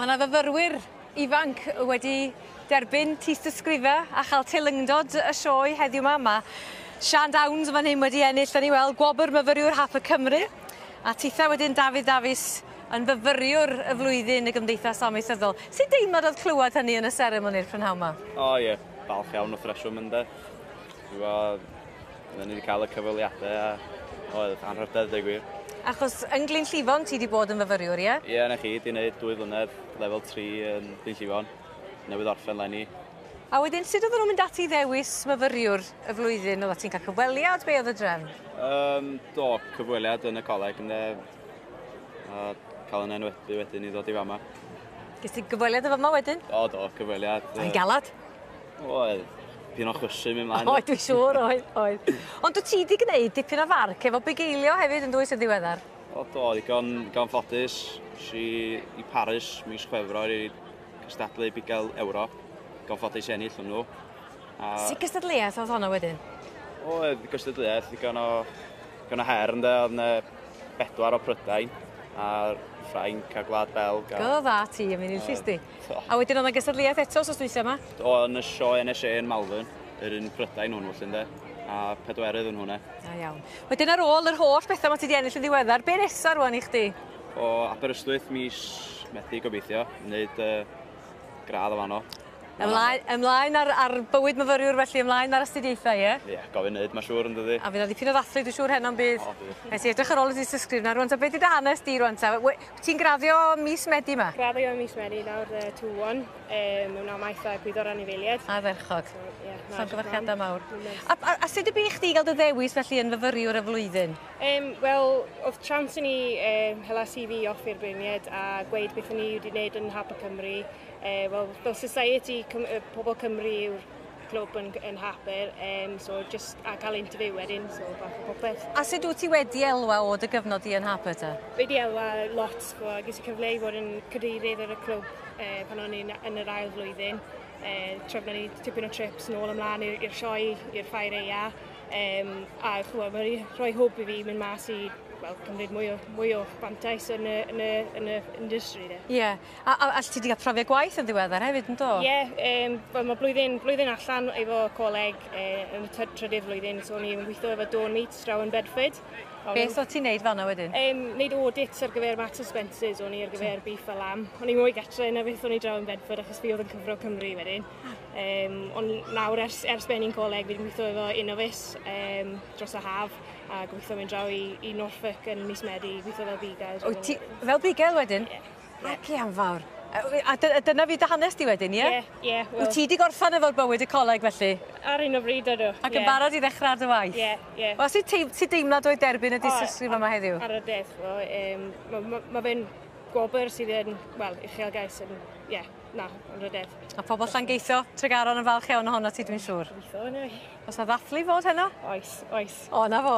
Mae yna fyfyrwyr ifanc wedi derbyn tystysgrifau a chael teilyngdod y sioe heddiw yma. Mae Sian Downs yn fan hyn wedi ennill, da ni weld, gwobr myfyriwr hap y Cymru. A titha wedyn Dafydd Dafis yn fyfyriwr y flwyddyn y Gymdeithas Amaethyddol. Sut deimlad oedd clywed hynny yn y seremoni'r prynhawn yma? O ie, falch iawn wrth reswm ynde. Dwi'n gweld, oedden ni wedi cael y cyfweliadau a oedd anrhydedd dweud gwir. Achos yn Glyn Llifon ti wedi bod yn fyfyriwr, ie? Ie, na chi, di wneud dwy flynedd lefel 3 yn Glyn Llifon, newydd orffen lenni. A wedyn, sut oedden nhw'n mynd ati i ddewis myfyriwr y flwyddyn? Oedda ti'n cael cyfweliad? Be oedd y drefn? Um, do, cyfweliad yn y coleg, ynddo. A cael yn enwedu wedyn i ddod i fama. Ges ti gyfweliad y fama wedyn? O, do, cyfweliad. Oedd hi'n galad? Oedd. Dyn o'n chwysu mi mlaen. Oedd, dwi'n siŵr, oedd, oedd. Ond dwi ti di gwneud dipyn o farc efo bugeilio hefyd yn dwy's yn ddiweddar? O, do, digon, digon ffodus. Si i Paris mis Chwefror i gystadlu bugail Ewrop. Digon ffodus i ennill hwnnw. A... Si gystadleuaeth oedd honno wedyn? Oedd, gystadleuaeth, digon o, digon o her, ynddo, oedd yna bedwar o Prydain a'r Ffrainc a Gwlad Belg. A... Go dda ti, yn mynd i'r llysti. A wedyn oedd yna gystadleuaeth eto sos dwytha yma? O, yn y sioe NSA yn Malvern, yr un Prydain hwn felly ynde, a pedwerydd yn hwnna. A iawn. Wedyn ar ôl yr holl bethau mae ti di ennill yn ddiweddar, be nesaf rwan i chdi? O, Aberystwyth mis methu gobeithio, wneud uh, gradd o fanno. Ymlaen, ymlaen ar, ar bywyd myfyriwr felly, ymlaen ar astudiaethau, ie? Ie, yeah, gofyn neud, mae siŵr yn dydi. A fydd o ddipyn o ddathlu, dwi'n siŵr heno'n bydd. O, bydd. Nes i edrych ar ôl y dystysgrif na rwan, ta beth i dy hanes di rwan ta? Ti'n graddio mis Medi ma? Graddio mis Medi nawr y tŵ on, e, mewn amaeth a gwyddo'r anifeiliaid. A dderchog. So, yeah, Llongyfarchiadau mawr. A, a, a sut y bu i chdi gael dy ddewis felly yn fyfyriwr y flwyddyn? Um, Wel, oedd trans i ni um, hela CV off i'r beirniaid a gweud beth o'n i wedi gwneud yn Hap y Cymru. Uh, Wel, fel society, Cym uh, pobl Cymru yw'r clwb yn, yn hapur, um, so just a cael interview wedyn, so fath o popeth. A sut wyt ti wedi elwa o dy gyfnod i yn hapur ta? Wedi elwa lot, bo, ges i cyfle i fod yn cadeirydd ar y clwb uh, pan o'n i'n yn yr ail flwyddyn. Uh, tra ni tipyn o trips nôl ymlaen i'r sioe, i'r ffair eia, um, a chwa, mae wedi rhoi hwb i fi mynd mas i well, cymryd mwy o, mwy o fantais yn y, yn y, yn y industry. Ie. Yeah. A, a, a ti wedi cael profiad gwaith yn ddiweddar hefyd, yn do? Ie, yeah, um, well, mae blwyddyn, blwyddyn allan efo coleg uh, yn y trydydd flwyddyn, so ni'n gweithio efo Dawn Meat draw yn Bedford. Beth o ti'n neud fanna wedyn? Um, neud audits ar gyfer Max Spencer's o'n i ar gyfer beef a lamb. O'n i'n mwy gatre na beth o'n i draw yn Bedford achos fi oedd yn cyfro Cymru wedyn. Um, ond nawr ers, ers ben i'n coleg fi'n gweithio efo Innovis um, dros y haf a gweithio mynd draw i, i Norfolk yn mis Medi, gweithio fel bigel. O, ti, fel bigel wedyn? Yeah. Naci am fawr. A dy- a dyna fi dy hanes di wedyn ie? Ie ie wel... Wyt ti di gorffan efo'r bywyd y coleg felly? Ar hyn o bryd ydw. Ac yn barod i ddechra ar dy waith? Ie ie. Wel sut teim- sut deimlad oedd derbyn y dystysgrif yma heddiw? Ar y dechre yym ma' ma' ma' fe'n gwobr sydd yn wel uchelgais yn ie na ar y dechre. Ma' pobol Llangeitho, Tregaron yn falch iawn ohonot ti dwi'n siŵr. Gobeithio yndyfe. O's 'na ddathlu i fod heno? Oes oes. O 'na fo.